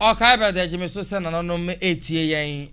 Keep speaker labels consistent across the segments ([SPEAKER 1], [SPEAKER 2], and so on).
[SPEAKER 1] Ɔkae bɛ dɛ, Gye me so sɛ nananom retie yɛn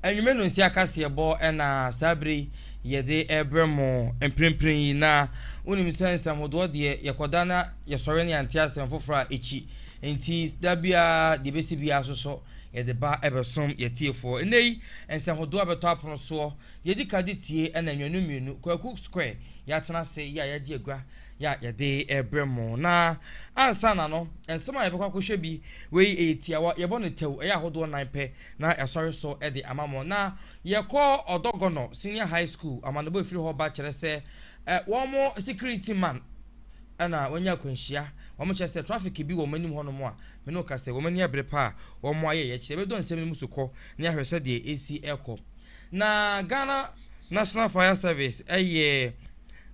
[SPEAKER 1] anwummere no nsi akaseɛbɔ na saa bere yi yɛde rebrɛ mo mprempren yi. Na wonim sɛ nsɛmhodoɔ deɛ yɛkɔda na yɛsɔre ne yɛante asɛm foforɔ a ɛkyi. Nti da biara deɛ ɛbɛsi biara so so yɛde ba ɛbɛsom yɛtiefoɔ. Nnɛ yi nsɛmhodoɔ a bɛtɔ apono soɔ yɛdi ka de tie ɛna nnwanu mmienu Kwaku Square yɛatena ase yɛ a yɛagye agua Yɛ a yɛde rebrɛ mo. Na ansa na no, nsɛm a yɛbɛkɔ akɔhwɛ bi, wei ɛyɛ tiawa, yɛbɔ no tɛw, ɛyɛ ahodoɔ nan pɛ, na yɛasɔre so de ama mo. Na yɛkɔ Ɔdɔgɔnɔ Senior High School, amanebɔ a ɛfiri hɔ ba kyerɛ sɛ wɔn security man na wanya akwanhyia, wɔn kyerɛ sɛ traffic bi wɔ wɔn anim hɔnom a, me ne wo ka sɛ wɔn ani abere paa, wɔn ayɛ yɛ kyerɛ. Yɛbɛdɔ nsɛm no mu so kɔ na yɛahwɛ sɛ deɛ ɛsi ɛkɔ. Na Ghana National Fire Service ɛyɛ.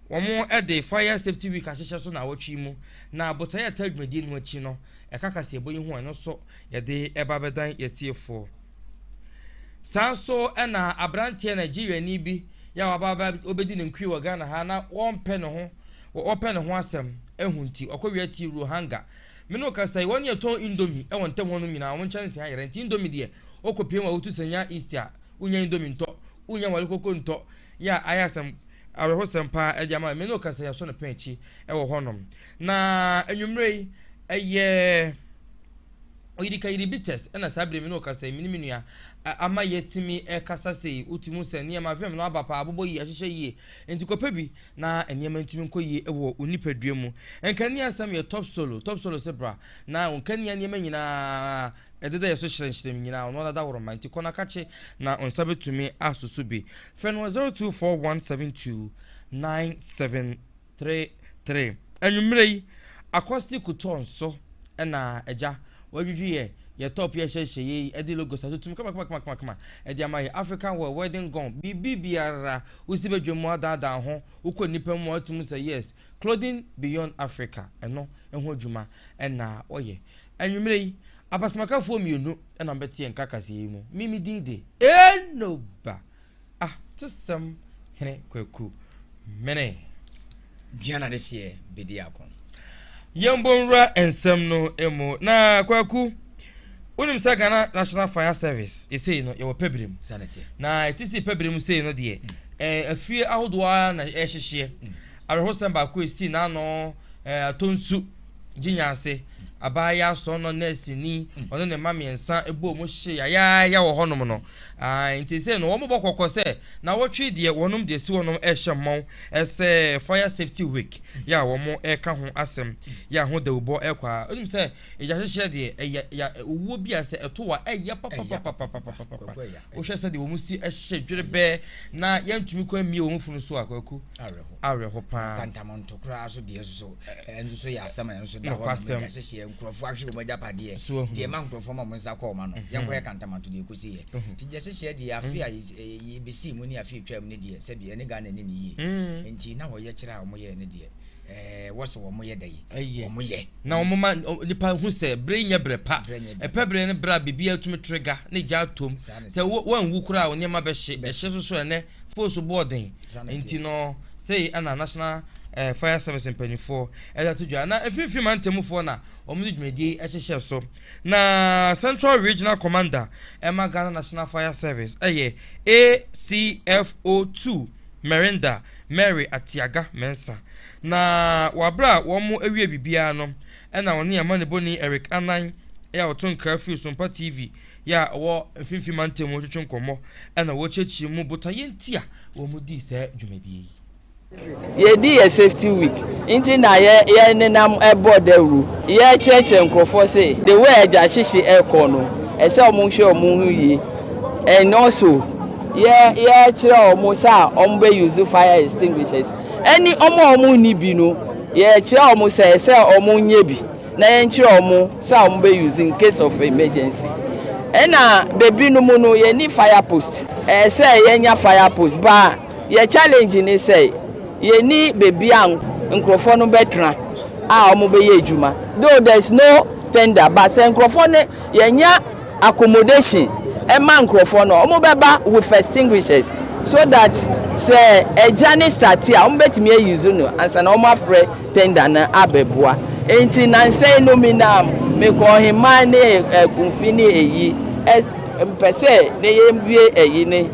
[SPEAKER 1] Wɔde Fire Safety Week ahyehyɛ so naawɔtwe yi mu, na Botaeɛ a ɛtaa dwumadie no akyi no, ɛka kaseɛbɔ yi ho a ɛno nso yɛde reba abɛdan yɛn atiefoɔ. Saa nso na aberanteɛ Nigeriani bi yɛ a waba aba ɔbɛdi ne nkue wɔ Ghana ha na wɔmpɛ ne ho wɔpɛ ne ho asɛm ɛho nti ɔkɔwia ti Ruhanga. Me ne ɔkasa yi wɔn yɛ tɔn indomi ɛwɔ ntam hɔ nom nyinaa wɔn nkyɛnse ayɛrɛ nti indomi deɛ ɔkɔpie mu a wotu sanya east a wonya indomi ntɔ wonya wale koko ntɔ yɛ a ayɛ asɛm awerɛhosɛm paa de ama me. Me ne wo kasa yi yɛasɔ no pɛn akyi wɔ hɔnom. Na anwummerɛ yi ɛyɛ oyirikayiri bi tɛs ɛna saa bere me ne wo kasa yi me ne me nua ama yɛatumi ɛkasa sei wotumi hu sɛ nneɛma vim no aba paa abobɔ yie ahyehyɛ yie nti kɔpɛ bi na nneɛma ntumi nkɔ yie wɔ wo nipadua mu nkanea asɛm yɛ top solo top solo se bra na nkanea nneɛma nyinaa Ɛdeda yɛ so hyerɛnhyerɛn nyinaa, ɔno ara dawuroma nti, kɔ na ka kye na wo nsa bɛtumi asoso bi. Frɛ no wɔ 0241729733. Anwummerɛ yi, Accosti Couture nso na agya wadwidwi yɛ yɛ top yi a ɛhyɛ nhyehyɛeɛ yi de logos atotom kamakamakama de ama yɛ African wear, wedding gown, biribibiara wosi badwam adaadaa ho, wokɔ nnipa mu a woatumi sɛ yes, Clothing Beyond Africa no ho adwuma na wɔyɛ. Anwummere yi, abasamakafoɔ mmienu na wɔbɛte yɛn nka kaseɛ yi mu. Me me din de. Enoba Atesɛm Hene Kwaku Mene.
[SPEAKER 2] Dwane adehyeɛ bɛdi ako. Yɛmbɔ
[SPEAKER 1] nwura nsɛm no mu na Kwaku. Wonim sɛ Ghana National Fire Service yɛ sei no yɛwɔ pɛbrem na ɛte
[SPEAKER 2] sei pɛbrem
[SPEAKER 1] sei no deɛ ɛɛ afie ahodoɔ ara na ɛrehyehyeɛ awerɛhosɛm baako ɛsi n'ano ɛɛ atɔ nsu gye nyanse abaayewa asɔn no nɛɛse ni ɔne ne mma mmiɛnsa ɛbɔ mu hye yayaaya wɔ hɔnom no aa nti sei no wɔn bɔ kɔkɔ sɛ na wɔtwe deɛ wɔnom deɛ si wɔnom ɛhyɛ mmɔn ɛsɛ fire safety week yɛ a wɔn ɛka ho asɛm yɛ a ho dawubɔ ɛkɔ a wonim sɛ Egyahyehyɛ deɛ, ɛya ya owuo bi a sɛ ɛto wo a, ɛya papapapapapapapa. Wohwɛ sɛdeɛ wɔn si hye dwerebɛɛ na yɛntumi kɔ mmie wɔn funu so a, kwaku, awerɛho paa. Kantamanto koraa so
[SPEAKER 2] deɛ nso so, ɛnso so yɛ asɛm a ɛnso da hɔ na egyahyehyɛ nkurɔfoɔ ahwe wɔn agyapadeɛ, deɛ ɛma nkurɔfoɔ ma wɔn nsa kɔ wɔn ano. Mhm. Yɛnkɔyɛ kantamanto deɛ ɛkɔsi yɛ. Mhm. Nti egyahyehyɛ deɛ, afe mhm. a yɛbɛsii mu ne afe atwaa mu ne deɛ, sɛbi ɛne Ghana ne ne yie. Nti na wɔyɛ kyerɛ a wɔyɛ ne deɛ, ɛɛ wɔsɛ wɔn yɛ dɛ yi. ɛyɛ wɔn yɛ. na wɔn ma
[SPEAKER 1] nipa hu sɛ bere nyɛ bere pa ɛpɛ bere ne bere a biribi atumi trigger ne gya atom sɛ wɔn wu koraa wɔn nneɛma bɛhye bɛhye soso ɛnɛ fon so bɔɔ den nti no sɛyi ɛna national ɛɛ eh, fire service mpanimfoɔ ɛde ato dwa na efinfin mantamufoɔ na wɔn de dwumadie ɛhyehyɛ so na central regional commander ɛma ghana national fire service ɛyɛ acfo two. Merinda, Mary Atiaga Mensah. Na wɔ aber a wɔewie biribiara no, nna ɔnye amanyɛbɔnyi Eric Anan a ɔto nkra fir Sompa TV yi a ɔwɔ Mfinimfin Mantamu no twetwe nkɔmbɔ na woekyerɛkyerɛ mu botae ntsi a wɔdii saa dwumadie yi.
[SPEAKER 3] Yɛdi yɛ safety week nti na yɛ yɛ nenam bɔ dawuru yɛ kyerɛkyerɛ nkorɔfoɔ se the way agya hyehye ɛkɔ no ɛsɛ ɔmo hwɛ ɔmo ho yie. And also yɛ yɛkyerɛ wɔn sɛ a wɔn bɛ use fire extinguishers ɛne wɔn a wɔn nni bi no yɛkyerɛ wɔn sɛ ɛsɛ wɔn nyɛ bi na yɛn kyerɛ wɔn sɛ a wɔn bɛ use in case of emergency ɛna bebi no mu no yɛn ni fire post ɛsɛ yɛn nya fire post ba yɛ challenge ne sɛ yɛn ni bebi a nkurɔfoɔ no bɛ tena a wɔn bɛ yɛ adwuma though there is no tender ba sɛ nkurɔfoɔ no yɛn nya. accommodation ma nkorɔfoɔ no a wɔn bɛba with extinguishers so that sɛ ɛgya no start a wɔn bɛtumi a use no ansa na wɔn afrɛ tender no abɛboa nti nansa yi no me nam me kɔ ɔheman ne akunfi ne ɛyi mpɛ sɛ ne yɛn wie ɛyi ne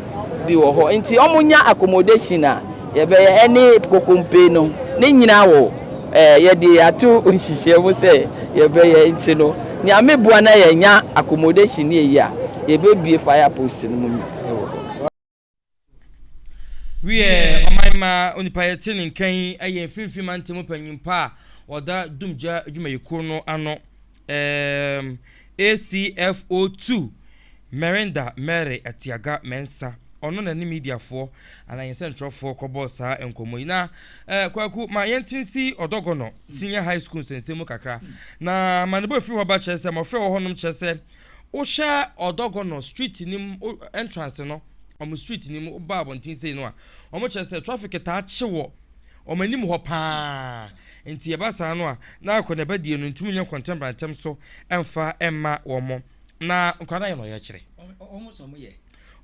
[SPEAKER 3] bi wɔ hɔ nti wɔn nya accommodation a Yɛbɛyɛ ɛne kokompe no ne nyina wɔ eh, yɛde ato nhyehyɛɛ mu sɛ yɛbɛyɛ nti no Nyame boa na yɛnya accommodation ne yɛyi a, yɛbɛbue fire post no mu wɔ hɔ.
[SPEAKER 1] Wiɛ, ɔman mma onipa yɛ te ne nka yi yɛ mfinimfini mantam panyinpa a ɔda dumgya adwumayɛkuo no ano. Eeeem ACFO two Merenda Mary Atiaga Mensah ɔno na ne mediafoɔ anaa yɛn sɛntwerɛfoɔ kɔbɔɔ saa nkɔmmɔ yi na eh, Kwaku ma yɛnte nsi Ɔdɔgɔnɔ Senior High School nsɛnsɛm mu kakra na ma ne bɔ ɛfiri hɔ ba kyerɛ sɛ mmɔfra wɔ hɔnom kyerɛ sɛ wohyɛ Ɔdɔgɔnɔ street no mu entrance no wɔn street no mu woba abɔnten sei no a wɔkyerɛ sɛ traffic taa kye wɔ wɔn anim hɔ pa ara, enti ɛba saa no a, na akɔneaba die no ntumi nyɛ nkɔntɛnbra ntɛm so mfa mma wɔn. Na nkwadaa no ayɛ no ɔyɛkyerɛ.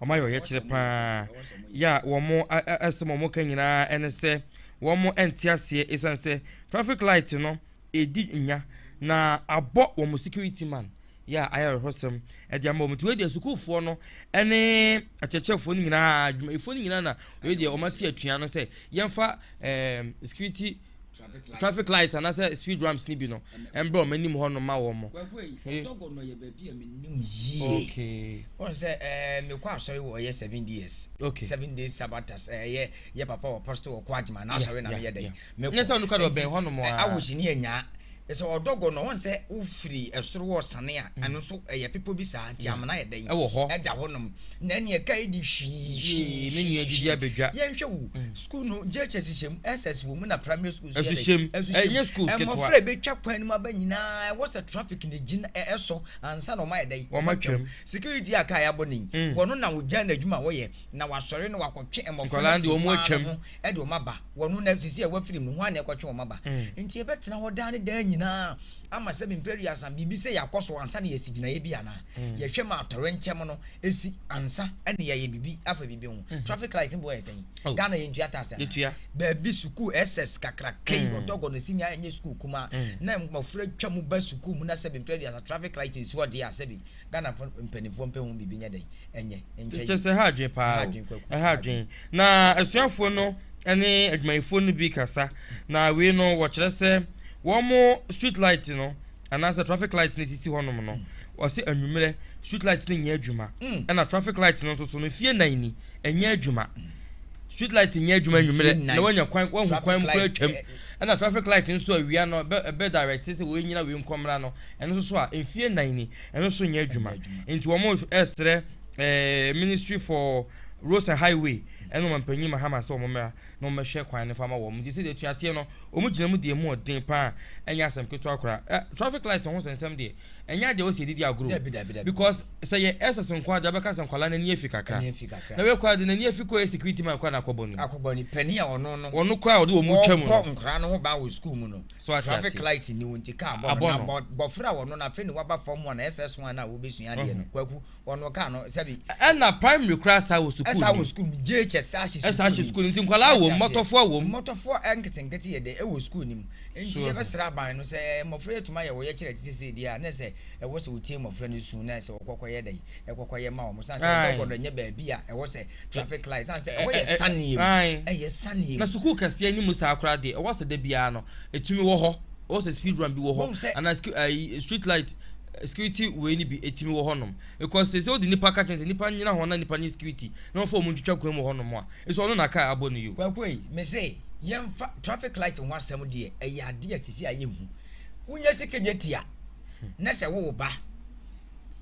[SPEAKER 2] Wɔayɛ ɔyɛkyerɛ
[SPEAKER 1] pa ara. Yɛ a wɔn asɛm a wɔka nyinaa ne sɛ wɔn nte aseɛ esiane sɛ traffic light no edi nya na abɔ wɔn security man yɛ a ayɛ awerɛhosɛm de ama wɔn. Nti wei deɛ sukuufoɔ no ne akyerɛkyerɛfoɔ no nyinaa adwumayɛfoɔ no nyinaa na wei deɛ wɔn ate atua no sɛ yɛmfa ɛɛm security traffic light anaasɛ speed ramps no bi no ɛmbrɛ wɔn anim hɔ no ma wɔn. Ɔdɔgɔ no yɛ
[SPEAKER 2] baabi a menim yie. Okay. Wɔn sɛ
[SPEAKER 1] ɛɛ
[SPEAKER 2] mekɔ asɔre wɔ ɛyɛ seven days. Okay. Seven days
[SPEAKER 1] sabbatas
[SPEAKER 2] ɛyɛ yɛ papa wɔ pɔsito wɔ kɔ agyima na asɔre na meyɛ dɛ. Me Nyɛ sɛ ɔno kura deɛ ɔbɛn
[SPEAKER 1] hɔ nom ara. Awo hyini anyaa
[SPEAKER 2] me sɛ ɔdɔ gɔ no wɔn sɛ wo firi ɛsoro wɔ sane a ɛno nso ɛyɛ pepo bi saa nti amena yɛ dɛn ɛwɔ hɔ ɛda hɔ nom na ɛne ɛka ɛdi hwii hwii me nua didi abɛdwa
[SPEAKER 1] yɛn hwɛ wo mm.
[SPEAKER 2] school no JHS hyɛ mu SS wɔ mu na primary school so yɛ dɛn ɛso hyɛ
[SPEAKER 1] mu school ketewa mmɔfra ɛbɛtwa kwan no mu
[SPEAKER 2] aba nyinaa ɛwɔ sɛ traffic na gyina ɛsɔ ansa na ɔma yɛ dɛn wɔn atwam security
[SPEAKER 1] a kaa yɛabɔ
[SPEAKER 2] ne yi mm. wɔn na wɔgya na adwuma wɔyɛ Na wɔasɔre na wɔakɔtwe mmɔfra no afiri hɔ ara no
[SPEAKER 1] ho de wɔn aba.
[SPEAKER 2] Wɔno na sisi a wɔafiri mu no, hwan na ɛkɔtwe wɔn aba? Enti yɛbɛtena hɔ daa ne daa nyinaa ama sɛ mpɛn aduasa? Biribi sei akɔ so ansa na yɛasi gyinaeɛ bi anaa? Yɛhwɛ ma atɔwrɛnkyɛm no si ansa na yɛayɛ biribi afa biribi ho. Traffic light no boɔ yɛ sɛn? Ghana yɛntua tax anaa? Baabi, sukuu SS kakraka yi, Odɔgɔ no Senior ɛnyɛ sukuu kumaa na mmɔfra twa mu ba sukuu mu na sɛbe mpɛn aduasa traffic light nsi hɔ deɛ a, sɛbe. Ghanafo mpanimfoɔ mpɛ ho biribi nyɛ dɛn ɛnyɛ nkyɛ yie. Kyɛ sɛ ɛha adwene
[SPEAKER 1] paa o, ɛha adwene. Na asuafoɔ no ne adwumayɛfoɔ no bi kasa, na wei no wɔkyerɛ sɛ wɔn street light no anaasɛ traffic light no ɛsisi hɔnom no, wɔse anwummerɛ street light no nyɛ adwuma, ɛna traffic light no nso so no mfie nnan ni. Ɛnyɛ adwuma. Street light nyɛ adwuma anwummerɛ na woanya kwan woahu kwan mu koraa atwam. Ɛna traffic light nso awia no ɛbɛ ɛbɛ direct sɛ wei nyina wei nkɔ mmra no ɛno nso so a mfie nnan ni ɛno nso nyɛ adwuma. Nti wɔn ɛresrɛ ɛɛ ministry for roads and highway ɛne ɔmampanyin Mahama sɛ wɔn mmra na wɔn mmɛhwɛ kwan no fa ma wɔn. Nti sɛdeɛ ɛtua teɛ no wɔn gyina mu deɛ mu ɔden paa ɛnyɛ asɛm ketewa koraa. Ɛ traffic light ho sɛnsɛm deɛ ɛnyɛ ade a ɛwɔ sɛ yɛde di agorɔ o because sɛ yɛ SS nko ara de wobɛka sɛ nkwadaa no ani afi kakra na wei koraa de n'ani afi kɔ yɛ security man koraa na akɔbɔ no akɔbɔ no panin a ɔno no
[SPEAKER 2] ɔno koraa a ɔde wɔn mu twa mu
[SPEAKER 1] no ɔbɔ nkwadaa no ho ban wɔ
[SPEAKER 2] school mu no so ate traffic aseɛ light ni wo nti kaa bɔ no Abɔ na no. bɔ- bɔfra a ɔno no afei ne waba fam a na SS ho a na wobɛsua adeɛ no kwaku wɔn no kaa no sɛbi. ɛna primary koraa
[SPEAKER 1] saa wɔ sukuu ɛsaa wɔ sukuu mu jhs
[SPEAKER 2] saa hyɛ ɛsaa hyɛ sukuu
[SPEAKER 1] nti nkwadaa wɔ mmɔtɔfoɔ wɔ mu mmɔtɔfoɔ
[SPEAKER 2] nketenkete yɛ dɛ ɛwɔ sukuu nim nti yɛbɛsrɛ aban no sɛ mmɔfra yɛ tuma yɛ wɔyɛ kyerɛ te sɛ deɛ a na sɛ ɛwɔ sɛ wɔtie mmɔfra no su na sɛ wɔkɔkɔ yɛ dɛ ɛkɔkɔ yɛ ma wɔn san sɛ wɔbɛkɔ no nyɛ baabi a ɛwɔ sɛ traffic light san sɛ ɛwɔ yɛ saneɛ mu ɛyɛ saneɛ mu na sukuu kɛseɛ ne mu
[SPEAKER 1] saa koraa deɛ ɛwɔ sɛ da biara no ɛtumi wɔ hɔ ɛwɔ sɛ speed run bi wɔ hɔ anaa street light security wei no bi ɛtumi wɔ hɔ nom because sɛ sɛ wode nipa ka kyɛn sɛ nipa nyina hɔ na nipa nyɛ security na wɔfa ɔmo ntwitwa kwan mu wɔ hɔ nom a ɛsɛ ɔno na car abɔ no yo. Kwakuei, mese
[SPEAKER 2] yɛmfa traffic light ho asɛm deɛ ɛyɛ adeɛ a sisi a yɛnhu. Wonya si kegyetia na sɛ wo ba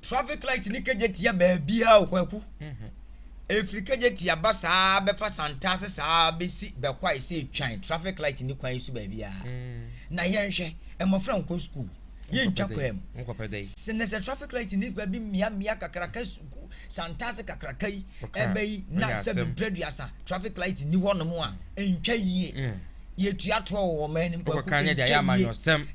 [SPEAKER 2] traffic light ne kegyetia baabiara o kwaku. Ɛfiri kegyetia ba saa bɛfa santaase saa bɛsi bɛkwae sɛ twan traffic light ne kwan so baabiara. Na yɛnhwɛ mmɔfra nkɔ school. yɛntwa kwan mu sene sɛ traffic light nnipa bi mmeammea kakraka suku santaase kakraka yi ɛbɛ yi na sɛ mprɛ duasa traffic light ni hɔ nom a ɛntwa yie mm. yɛtua toɔ wɔ wɔn anim kwaku ɛntwa yie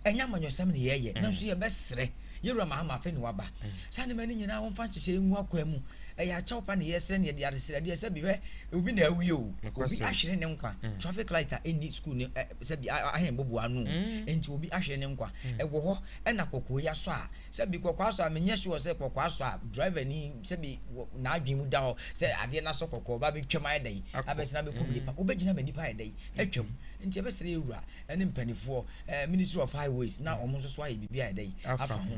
[SPEAKER 1] ɛnyɛ amanyɔsɛm ne
[SPEAKER 2] yɛyɛ mm. nanso yɛbɛserɛ yɛwura mahama afei ne waba mm. saa nneɛma no nyinaa wɔmfa nhyehyɛ ngu akwan mu ɛyɛ akyɛw pa ne yɛsrɛ ne yɛde adesrɛdeɛ sɛ bihwɛ obi na awie o obi ahwere ne nkwa traffic light a ɛnni school ne sɛbi ahen bobow ano o, ntsi obi ahwer ne nkwa. Ewɔ hɔ na kɔkɔɔ yi asɔ a, sɛbi kɔkɔɔ asɔ a, mennyɛ sure sɛ kɔkɔɔ asɔ a driver no yi sɛbi wɔ n'adwen mu da hɔ sɛ adeɛ no asɔ kɔkɔɔ, ɔba abɛtwam ayɛ dɛn, abɛsen abɛkum nnipa, wɔbɛgyina ma nnipa ayɛ dɛn, atwam. Nti yɛbɛsrɛ yɛn Wura ne mpanifoɔ, Ministry of Highways, na wɔn nso so ayɛ biribi ayɛ dɛn, afa ho.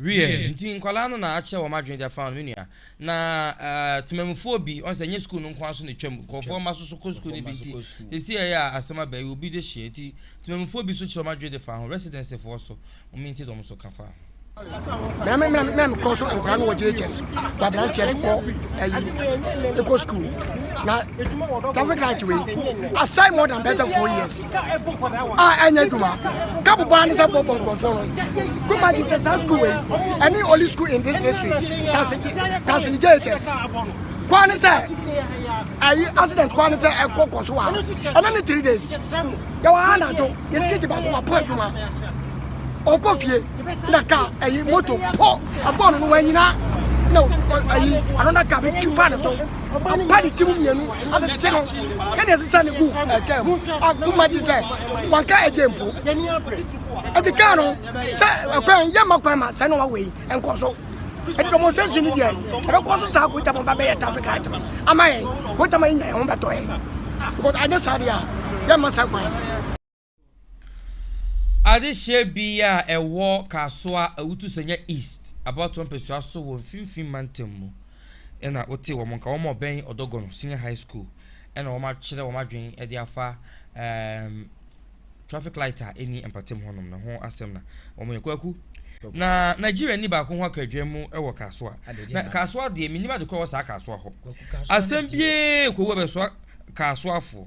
[SPEAKER 1] Wiɛ, nti nkwadaa no na akyɛ wɔn adwene de afa no, me nua. Na temamufoɔ bi, wɔn sɛ ɛnyɛ sukuu no nko ara so na ɛtwam, nkurɔfoɔ mma nso so kɔ sukuu no bi nti, sɛsi ɛyɛ a asɛm aba yi, obi de hyeɛ nti, temamufoɔ bi nso kyerɛ wɔn adwene de fa ho, residencefoɔ nso, wɔn nti na wɔn nso ka fa. na me na
[SPEAKER 4] me kɔ so nkora no wɔ JHS ba aberanteɛ no kɔ ayi ɛkɔ school na traffic light wei asɛe more than bɛsɛ four years a ɛnyɛ adwuma kapo baa ne sɛ bɔbɔ nkurɔfoɔ no kuma gye sɛ saa school wei ɛne only school in this district tasini jhs kwa ne sɛ ayi accident kwa ne sɛ ɛkɔ kɔ so a ɛna ne three days yɛwɔ ha anadwo yɛsikiti baako wapɔ adwuma ɔkɔ fie na ka ɛyi moto pɔ abɔɔ no no wanyina na ɛyi another car bɛtwi fa ne so ɔba ne tirim mmienu atetete no ɛna ɛsesa ne gu ɛka mu akoma gye sɛ wanka ɛgye mpo ɛte kaa no sɛ ɛkwan yɛ ma kwan ma sɛ na wawe yi ɛnkɔ so ɛde demonstration no deɛ ɛbɛkɔ so saa kota mo ba bɛyɛ traffic light no ama yɛn kota ma yɛnya yɛn ho bɛtɔ yɛn because anyɛ saa deɛ a yɛmma saa kwan
[SPEAKER 1] Adehyeɛ bi a ɛwɔ Kasoa, Awutu Sanya East, abatoɔ mpɛsua so wɔ Mfimfini Mantam mu na wotee wɔn nka. Wɔn a wɔbɛn Ɔdɔgɔno Senior High School na wɔakyerɛ wɔn adwene de afa ɛɛm traffic light a ɛnni mpatam hɔnom no ho asɛm na wɔyɛ. Kwaku, na Nigeriani baako ho aka adwuma mu wɔ Kasoa. Na Kasoa deɛ, mennim ade korɔ wɔ saa Kasoa hɔ. Asɛm biara kɔwu a ɛbɛsoa Kasoafoɔ.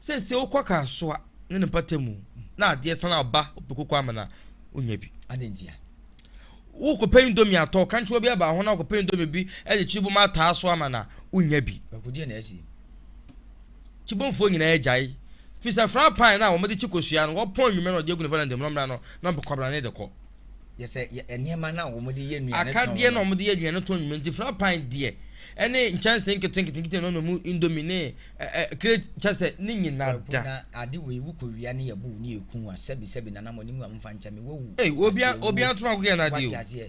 [SPEAKER 1] Seesei wokɔ Kasoa ne ne mpatamu na adeɛ san aba Opekoko Amena a, wonnya bi. Adɛn ntia? Wokɔpɛ indomie atɔ, kankyerɛ obi aba ho na wokɔpɛ indomie bi de kyibom ataa so ama no a, wonnya bi. Akodeɛ na asie. Kyibomfoɔ nyinaa agyae. Firi sɛ frapan no a wɔde kye kosua no, wɔpɔn anwummerɛ na wɔde agu ne varanda mu na wɔmmra no na wɔde kwabrane de kɔ. Yɛ sɛ yɛ
[SPEAKER 2] nneɛma no a wɔde yɛ nnuane tɔn. Akadeɛ na wɔde yɛ nnuane
[SPEAKER 1] tɔn nyuma nti fry pan deɛ ɛne nkyɛnse nkete nkete nkete na ɔnam indomi ne ɛ ɛ crate kyɛ sɛ ne nyina da. Na ade wei wokɔ
[SPEAKER 2] wia ne yɛ bow ne yɛ kun wa sɛbi sɛbi nana mo anim a mo fa nkyɛn me wawu. Ei obia obia to
[SPEAKER 1] akokɔ yɛ na ade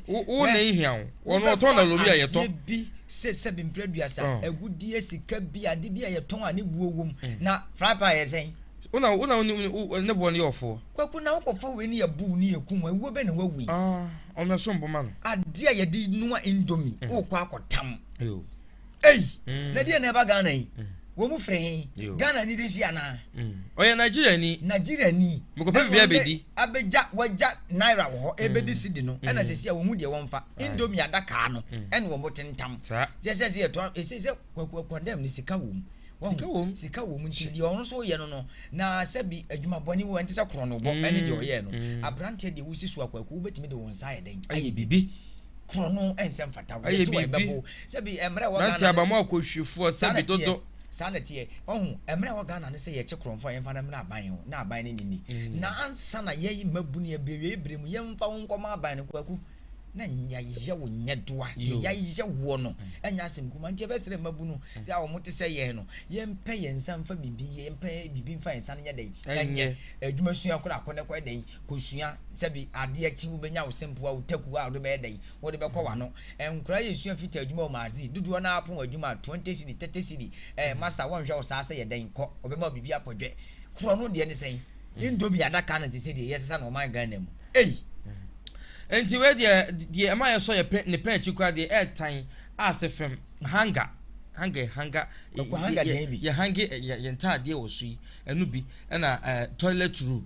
[SPEAKER 1] o wo na ehia wo wɔn ɔtɔn na wɔn yɛ yɛ tɔ. Adeɛ bi se sɛbi
[SPEAKER 2] mpira dua sa agudeɛ sika bi ade bi a yɛ tɔn a ne buo wom na fry pan yɛ sɛn. Wo na wo na
[SPEAKER 1] wo ne boɔ no yɛ ɔfoɔ. Kwaku na wokɔfa wei
[SPEAKER 2] ne yɛbow ne yɛkum wo a, wuo bɛn na woawu yi? Ah, ɔno ɛsom bo
[SPEAKER 1] ma no. Adeɛ a yɛde noa
[SPEAKER 2] indomie, mm. wokɔ akɔtam. Yo. Ei, mm. na deɛ na ɛba Ghana yi? Mm. Wɔn mu fere he? Ghana ni de si anaa? Mm. Ɔyɛ Nigeria
[SPEAKER 1] ni. Nigeria ni. Mekɔpɛ biribi abɛdi. Abɛgya, wagya
[SPEAKER 2] naira wɔ hɔ, ɛbɛdi mm. sidi no, mm. ɛna sɛ si a wɔn mu deɛ wɔn fa. Indomie adakaa no, ɛna wɔn tentam. Saa. Sɛ sɛ sɛ yɛtɔ, ɛsɛ sɛ kwaku akɔndɛm ne sika wɔ mu. sika wɔ mu sika wɔ mu nti deɛ ɔno nso yɛ no no na sɛbi adwuma bɔne wɔ ɛnte sɛ korɔ no bɔ ɛne deɛ ɔyɛ no mm. aberanteɛ deɛ wosi so akwaku wobɛtumi de wɔn nsa ayɛ dɛn ayɛ biribi korɔ no ɛnsɛ mfata wɔyɛ te wɔ ɛbɛbo sɛbi mmerɛ wɔ ghana abamu akɔhwɛfoɔ
[SPEAKER 1] sɛbi dodo saa na teɛ ɔho
[SPEAKER 2] mmerɛ wɔ ghana no sɛ yɛkye korɔmfo a yɛmfa no mmerɛ aban ho na aban no nini mm. na ansa na yɛyi mmabunu yɛbɛwie berɛ mu yɛmfa wo nkɔma aban no kwaku na nea yɛ wo nyɛ doa deɛ yɛayɛ woɔ no ɛnyɛ asɛm kuma nti ɛbɛsrɛ mmabu no sɛ a wɔte sɛ yɛn no yɛmpɛ yɛn nsa mfa biribi yɛ yɛmpɛ biribi mfa yɛn nsa no nyɛ dɛn ɛnyɛ adwuma sua koraa kɔ ne kɔ dɛn kɔsua sɛbi adeɛ akyi wobɛnya wo sɛmpoa wo taku a wode bɛyɛ dɛn wode bɛkɔ wano nkora yɛ sua fita adwuma wɔ maadzi dodoɔ no apon adwuma 20 cedi 30 cedi eh, master wɔnhwɛ wo saa sɛ yɛ dɛn kɔ ɔbɛma biribi apɔdwɛ korɔ no deɛ ne sɛn ne nnobi adaka no te sɛ deɛ yɛsesa no ɔman Ghana mu ei!
[SPEAKER 1] Nti wei deɛ, deɛ ɛma yɛsɔ yɛ pɛ, ne pɛ akyi koraa deɛ ɛɛtan ase fɛm, hanger, hanger yɛ hanger, Ɔkɔ hanger yɛ- deɛ bi. yɛ hange ɛ- yɛ yɛ ntaadeɛ wɔ so yi, ɛno bi, ɛna ɛɛ toilet roll.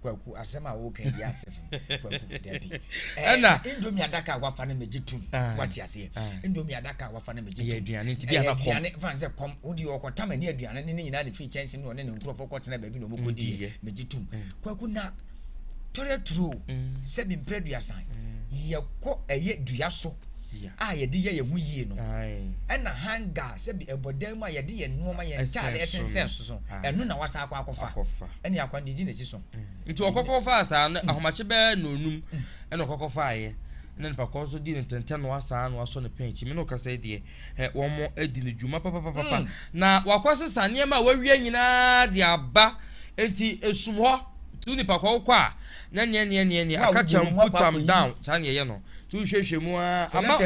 [SPEAKER 1] Kwaku, asɛm
[SPEAKER 2] a woka yi yɛ asefo. kwaku dabi ɛna eh, indomie
[SPEAKER 1] adaka a wafa
[SPEAKER 2] no megye tom ah. wate aseɛ ah. indomie adaka a wafa no megye tom
[SPEAKER 1] aduane nti bi anakɔm aduane fa sɛ kɔm wode
[SPEAKER 2] ɔkɔ tam ani aduane ne ne nyinaa ne firi kyɛnsem ne ɔne ne nkurɔfoɔ kɔtena baabi na ɔmɔkɔdiɛ megye tom mm. kwaku na tɔrɛ turo mm. sɛ bi mprɛ duasan mm. yɛkɔ ɛyɛ dua so a yɛde yɛ yɛn ho yie no ɛna hanga sɛbi ɛbɔdan mu a yɛde yɛn nneɛma yɛn ntaade ɛsensɛn so ɛno na wasa akɔ akɔfa ɛne akwan de gyi n'akyi so. Nti ɔkɔ kɔ faa
[SPEAKER 1] saa no ahomakye bɛɛ nnɔnum ɛna ɔkɔ kɔ faa yɛ ɛna nipa kɔ nso di ne ntɛntɛn no asaa no asɔ ne pɛn akyi mene ɔkasa yi deɛ ɛ wɔn adi ne dwuma papapapa mm. na wakɔ sesa nneɛma a wawia nyinaa de aba nti esum hɔ tu nipa kɔ kɔ a na neɛ neɛ neɛ neɛ aka kyɛm put am down saa neɛ yɛ no tu hwehwɛ mu a ama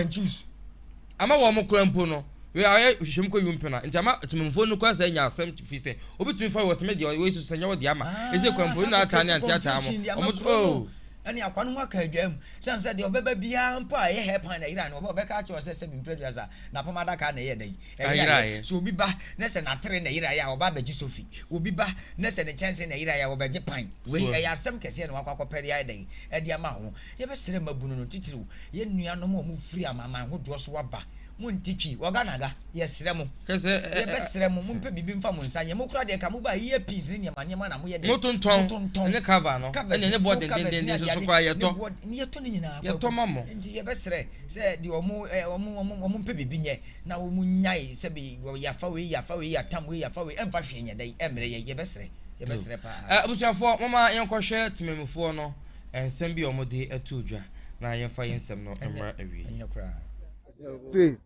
[SPEAKER 1] Ama wɔn koraa mpo no, wei ayɛ hwehwɛmu kɔ yumpe na nti ama temmufo no koraa saa nya asɛm fi sɛ obi tumi fa wɔ sɛ me deɛ wei so sɛ nyɛ wɔde ama ɛsɛ kwan mpo na ataa ne ante ataa mo ɔmo to oh ɛne akwa no
[SPEAKER 2] ho aka adwa mu sɛm sɛ deɛ ɔbɛba biara mpo a ɛyɛ hair pan na ɛyera no ɔba ɔbɛka akyerɛ wɔ sɛ sɛ bimprɛdua sa na apam adaka na ɛyɛ dɛ ɛyera yɛ sɛ obi ba na sɛ natere na ɛyera yɛ a ɔba abɛgye sofi obi ba na sɛ ne kyɛnse na ɛyera yɛ a ɔbɛgye pan wei ɛyɛ asɛm kɛseɛ na wakɔ akɔpɛre ayɛ dɛ ɛde ama ho Yɛbɛsrɛ mmabunu no, titiriw yɛn nuanom a wɔfiri amanaman hodoɔ so aba, monte twi, wɔga na ga, yɛsrɛ mo, yɛbɛsrɛ
[SPEAKER 1] mo,
[SPEAKER 2] mompɛ biribi mfa mo nsa nyɛ, mo koraa deɛ ka mo baa ear pins ne nneɛma nneɛma na moyɛ dɛn? Motontɔn, motontɔn, ne
[SPEAKER 1] cover no, covers, ɛne ne boɔ full covers ne dendendendenso adeade, so koraa ne yɛtɔ, boɔ, ne yɛtɔ ne nyinaa
[SPEAKER 2] kɔ, yɛtɔ ma mo. Enti
[SPEAKER 1] yɛbɛsrɛ
[SPEAKER 2] sɛ deɛ wɔn, eh, wɔn, wɔn, wɔn mpɛ biribi nyɛ, na wɔn nnyae sɛbe wɔ, yɛafa wei, yɛafa wei, yɛatam wei, yɛafa wei, ɛmfa hwee nyɛ dɛn, ɛmmrɛ yɛn, yɛbɛsrɛ, yɛbɛsrɛ paa. Eh, abusuafoɔ, momma
[SPEAKER 1] yɛnkɔhwɛ temanmufoɔ no, Nsɛm bi a wɔde ato dwa na yɛmfa yɛn nsɛm no mmra awiei. Ɛnyɛ koraa.
[SPEAKER 5] Te,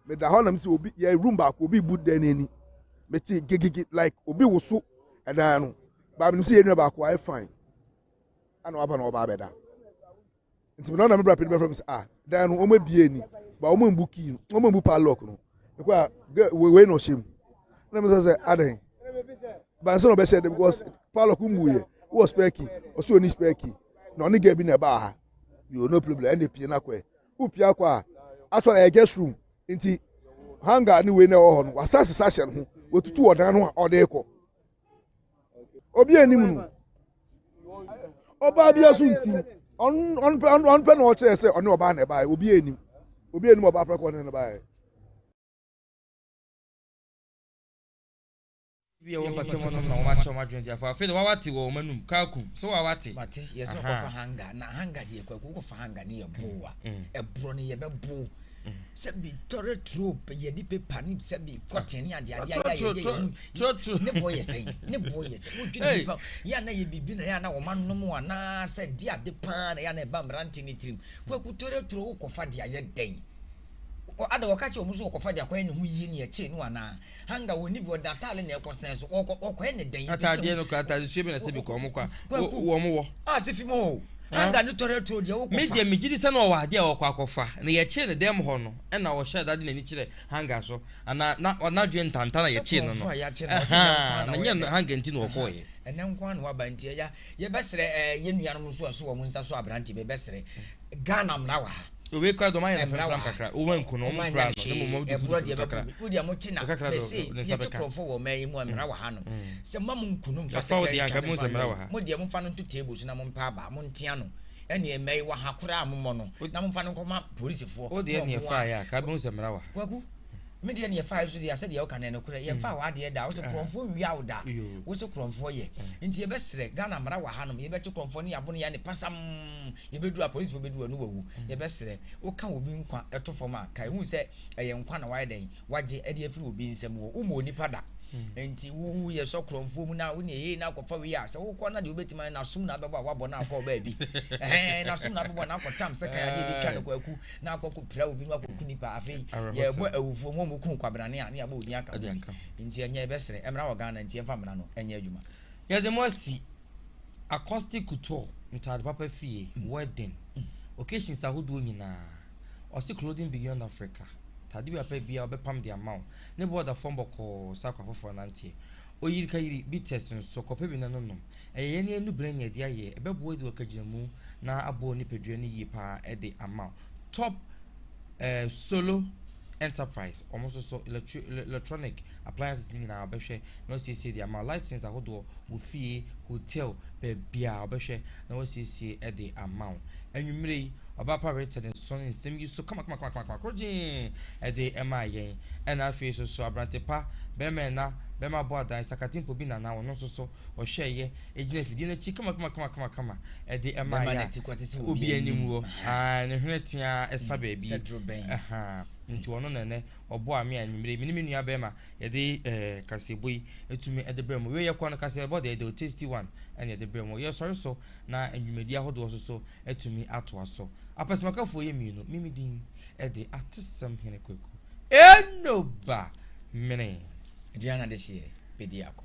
[SPEAKER 5] meda hɔ na mesi obi yɛ room baako obi bu dan n'ani. Mete gigigi like obi woso ɛdan no. Baa menim sɛ yɛn nua baako ayɛ fine. Ana waba na ɔba abɛda. Nti me na ɔna me bra pɛni bɛfrɛ me sɛ ah dan no wɔn abie ni ba wɔn mbu key no wɔn mbu padlock no. Mekɔ a wei na ɔhyɛ mu. Na mesɛ sɛ adɛn. Bansa na ɔbɛhyɛ de because Paulo ko mu yɛ wɔ spɛki ɔsɛ ɔni spɛki na ɔne gɛ bi na ɛbaa ha yoo no problem ɛna pie no akɔ ɛ wopie akɔ a atɔ na ɛyɛ guest room nti hanga ne wei na ɛwɔ hɔ no wasa sesa hyɛ no ho wɔtutu ɔdan no a ɔde kɔ obi anim no ɔbaa bi aso nti ɔnpɛ na ɔkyerɛ sɛ ɔne ɔbaa na ɛbaeɛ obi anim obi anim ɔbaa prɛkɔ ne no baeɛ
[SPEAKER 1] Ebi a wɔmpata mu nom na wɔakyerɛ wɔn adwene de afa. Afei de wawate wɔ wɔn anum. Kaaku, so wawate? Mate, yɛsɛ Aha. ɔkɔfa
[SPEAKER 2] hanga, na hanga deɛ kwaku wokɔfa hanga ne yɛ bow a, ɛborɔ no yɛbɛbow. Sɛbi tɔre turo, pɛ- yɛde pepa ne sɛbi kɔten ne adeade ayɛ a yɛde yɛ mu. Turo, turo. Ne boɔ yɛ sɛn? Ne boɔ yɛ sɛn? Wodwene Hey. nipa, yɛ a na yɛ biribi na yɛ a na wɔn anom anaa sɛ di ade paa na yɛ a na ɛba mmerante ne tirim. Kwaku tɔre turo wokɔfa de ayɛ dɛn? Wɔ- Ada wɔka kyerɛ wɔn so wɔkɔfa de akɔyɛ ne ho yie ne ɛkyee no anaa? Hanga wɔn ni bi wɔde ataade na ɛkɔ sɛn so wɔkɔ wɔkɔɛ ne dɛn. Ataadeɛ no kura ataade nsuo
[SPEAKER 1] bi na sɛ bi kɔ wɔn kɔ a wɔn wɔ. A sɛ fi mu o
[SPEAKER 2] Hanga ne tɔrɛ turo deɛ wɔkɔ fa. Me deɛ me gyidi sɛ na ɔwɔ
[SPEAKER 1] adeɛ a ɔkɔ akɔ fa na yɛkyee ne dɛm hɔ no ɛna ɔhyɛ da de n'ani kyerɛ Hanga so ana na n'adwene ntanta na yɛkyee no no ɛhaa na nyɛ Hanga nti na ɔkɔɛ. Ɛnɛ nko ara na waba nti
[SPEAKER 2] ɛya yɛbɛsrɛ ɛɛ yɛn nuanom nso a ɛso wɔn nsa so aberanteɛ bɛbɛsrɛ. Ghana mmara wɔ ha. Wei kura dɔm ayɛ no fɛn
[SPEAKER 1] fɛn kakra. Wɔn anku no, wɔn kura no, ne mu wɔn de fudu fudu kakra. Wo deɛ mo ti na
[SPEAKER 2] mɛsi yɛ ti kurɔfo wɔ mɛ yi mu mmara wɔ ha no. Sɛ mo mo nku no nfa se kura yi twa mo nfa
[SPEAKER 1] no. Mo deɛ mo nfa no nto table
[SPEAKER 2] so na mo mpa aba mo ntia no. Ɛne mɛ yi wɔ ha kura a mo mɔ no
[SPEAKER 1] na mo nfa
[SPEAKER 2] no nkɔ
[SPEAKER 1] ma polisi foɔ. Wo
[SPEAKER 2] deɛ
[SPEAKER 1] ne
[SPEAKER 2] ɛfa
[SPEAKER 1] ayɛ a
[SPEAKER 2] kaa
[SPEAKER 1] bɛ
[SPEAKER 2] nsa
[SPEAKER 1] mmara
[SPEAKER 2] wɔ ha.
[SPEAKER 1] Kwaku,
[SPEAKER 2] me deɛ ne ɛfa ayɛ so deɛ asɛ deɛ ɔka na ɛno kura yɛn fa wɔ adeɛ da. Wo se kurɔfo wia wo da. Wo se kurɔfo yɛ. Nti yɛ bɛ srɛ Ghana mmara wɔ ha nom yɛ bɛ kye kurɔfo ne abono yɛ ne pasam. Yɛbɛduru a polisifo bɛduru a ɔno wawu. Yɛbɛsrɛ wo ka obi nkwa to fam a, kae hu sɛ ɛyɛ nkwa na wayɛ dɛn? Wagye de afiri obi nsam. Wɔ wommɔ onipa da. Nti wo woyɛ sɔ korɔmfoɔ mu na wo ne ɛyei na akɔfa wei a, sɛ wokɔ na deɛ wobɛtumi ayɛ n'asom na abɛbɔ a wabɔ na akɔ baabi. Ɛhɛn, n'asom na abɛbɔ na akɔ tam sɛ kan adeɛ bi ka no kwaku na akɔ kɔ pira obi na wakɔ ku nipa. Afei yɛbɔ awufoɔ mu a wɔku kwabrane a ne yɛabɔ wo din aka ho bi. Nti ɛnyɛ yɛbɛsrɛ mmara wɔ Ghana nti yɛmfa mmara no nyɛ adwuma. Yɛde mo asi.
[SPEAKER 1] Acoustic gutor, ntaade papa fie, wedding, occasions ahodoɔ nyinaa. Ɔse clothing beyond Africa, ntaade bi a wopɛ biara ɔbɛpam de ama wo. Ne bo da fam bɔkɔɔ sɛ akora foforɔ nanteɛ. Oyirikayiri bitters nso, kɔpɛ bi na nonom. Ɛyɛ yɛn ani anubere anya adi ayɛ, ɛbɛboa adi wɔ kagyinamu na aboa wo nipadua no yie paa de ama wo. Top. Ɛɛ Solo Enterprise, wɔn nso so electri electronic appliances no nyinaa wɔbɛhwɛ na wɔasiesie de ama wo. Lighting ahodoɔ wɔ fie, hotel, baabiara wɔbɛhwɛ na wɔasiesie de ama wo. Anwummerɛ yi, ɔbaapa Rita de nsɔn nsɛm yi so kamakamakamakama korɔgyee de ɛmaa yɛn. Ɛna afei nso so aberante pa, bɛrima ɛna, bɛrima bɔ adan, sakatempo bi nana, ɔno nso so ɔhwɛeɛ, ɛgyina afidie no akyi kamakamakama de ɛma yɛ a obi anim wɔ ne hwene teaa ɛsa baabi nti ɔno na ɛnɛ ɔbɔ a me a nwummere me ne me nua bɛrima yɛde kaseɛbɔ yi ɛtumi ɛde brɛ mu wei yɛkɔ no kaseɛbɔ deɛ deɛ tasty one ɛne ɛde brɛ mu yɛsɔre so na nnwumadi ahodoɔ so so ɛtumi atoa so apɛsɛmakafoɔ yɛ mmienu mimi din ɛde atesɛm hene kwaku ɛnoba mene Adriana de
[SPEAKER 2] hyeɛ bɛdi akɔ